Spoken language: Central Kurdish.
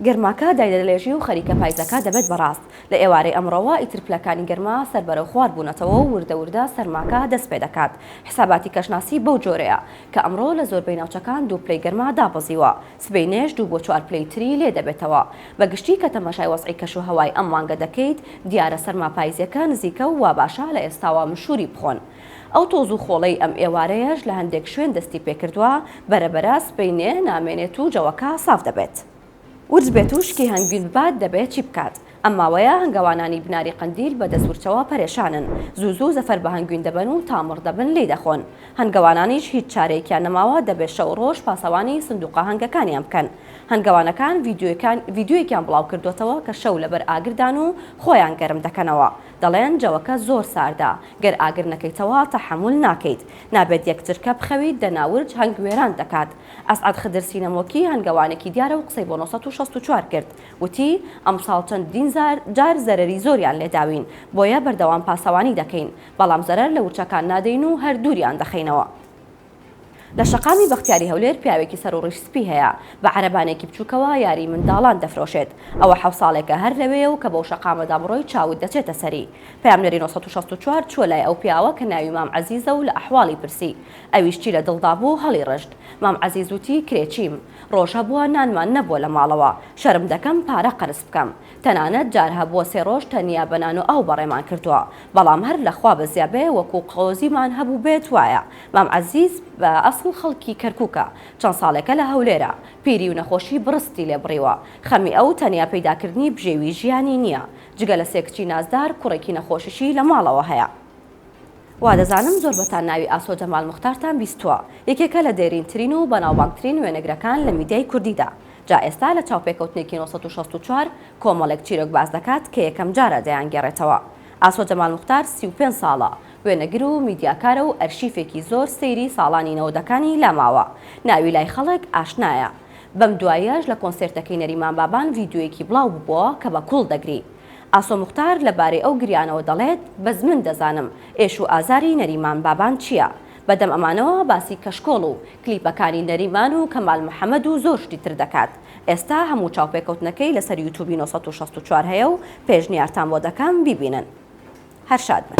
گەرماکە دایدەلێژی و خەریکە پایزەکە دەبێت بە ڕاست. لە ئێوارەی ئەمڕۆوە ئیتر پلەکانی گەرما سەر بەرەو خوار بوونەتەوە و وردە وردە سەرماکە دەست پێ دەکات. حساباتی کەشناسی بەو جۆرەیە، کە ئەمڕۆ لە زۆربەی ناوچەکان دوو پلەی گەرما دابەزیوە، سبەینێش دوو بۆ چوار پلەی تری لێ دەبێتەوە. بە گشتی کە تەماشای وەزعی کەش و هەوای ئەم مانگە دەکەیت، دیارە سەرما پایزییەکە نزیکە و واباشە لە ئێستاوە مشووری بخۆن. ئەو تۆز و خۆڵەی ئەم ئێوارەیەش لە هەندێک شوێن دەستی پێکردوە، بەرە بەرە سبەینێ نامێنێت و جەوەکە ساف دەبێت. ورچ بێت و شکی هەنگوین ببات دەبێت چی بکات؟ ئەم ماوەیە هەنگەوانانی بناری قەندیل بە دەست ورچەوە پەرێشانن، زوو زوو زەفەر بە هەنگوین دەبەن و تا مڕ دەبن لێی دەخۆن. هەنگەوانانیش هیچ چارەیەکیان نەماوە دەبێت شەو و ڕۆژ پاسەوانی سندوقە هەنگەکانیان بکەن. هەنگەوانەکان ڤیدیۆیەکیان بڵاوکردۆتەوە کە شەو لەبەر ئاگردان و خۆیان گەرم دەکەنەوە. دەڵێن جەوەکە زۆر ساردە گەر ئاگر نەکەیتەوە تەحەمول ناکەیت نابێت یەک چرکە بخەویت دەنا ورچ هەنگ وێران دەکات ئەسعەد خدر سینەمۆکی هەنگەوانێکی دیارە و قسەی بۆ نۆ سەد و شەست و چوار کرد وتی ئەمساڵ چەندین جار زەرەری زۆریان لێداوین بۆیە بەردەوام پاسەوانی دەکەین بەڵام زەرەر لە ورچەکان نادەین و هەر دووریان دەخەینەوە. لە شەقامی بەختیاری هەولێر پیاوێکی سەروڕیش سپی هەیە بە عەرەبانێکی بچووکەوە یاری منداڵان دەفرۆشێت ئەوە حەو ساڵێکە هەر لەوێیە و کە بەو شەقامەدا بڕۆی چاوت دەچێتە سەری پەیامنێری نۆ سەد و شەست و چوار چووە لای ئەو پیاوە کە ناوی مام عەزیزە و لە ئەحواڵی پرسی ئەویش چی لە دڵدا بوو هەڵیڕشت مام عەزیز وتی کرێچیم ڕۆژ هەبووە نانمان نەبووە لە ماڵەوە شەرم دەکەم پارە قەرز بکەم تەنانەت جار هەبووە سێ ڕۆژ تەنیا بە نان و ئاو بەڕێمان کردووە، بەڵام هەر لە خوا بەزیا بێ وەکوو قۆزیمان هەبووبێت وایە، مام عەزیز بە ئەسڵ خەڵکی کەرکووکە، چەند ساڵێکە لە هەولێرە، پیری و نەخۆشی بڕستی لێ بڕیوە، خەمی ئەو تەنیا پەیدا کردنی بژێوی ژیانی نییە، جگە لە سێ کچی نازدار کوڕێکی نەخۆشیشی لە ماڵەوە هەیە. وادەزانم زۆربەتان ناوی ئاسۆ جەمال موختارتان بیستووە، یەکێکە لە دێرینترین و بەناوبانگترین وێنەگرەکان لە میدیای کوردیدا، جا ئێستا لە چاوپێکەوتنێکی نۆ سەد و شەست و چوار کۆمەڵێک چیرۆک باس دەکات کە یەکەمجارە دەیانگێڕێتەوە. ئاسۆ جەمال موختار سی و پێنج ساڵە وێنەگر و میدیاکارە و ئەرشیفێکی زۆر سەیری ساڵانی نەوەدەکانی لا ماوە، ناوی لای خەڵک ئاشنایە، بەم دواییەش لە کۆنسێرتەکەی نەریمان بابان ڤیدیۆیەکی بڵاو ببووە کە بە کوڵ دەگری. ئاسۆ موختار لە بارەی ئەو گریانەوە دەڵێت، بەس من دەزانم ئێش و ئازاری نەریمان بابان چییە. بە دەم ئەمانەوە باسی کەشکۆڵ و کلیپەکانی نەریمان و کەمال محەمەد و زۆر شتی تر دەکات. ئێستا هەموو چاوپێکەوتنەکەی لەسەر یوتوبی نۆ سەد و شەست و چوار هەیە و پێشنیارتان بۆ دەکەم بیبینن. هەر شاد بن.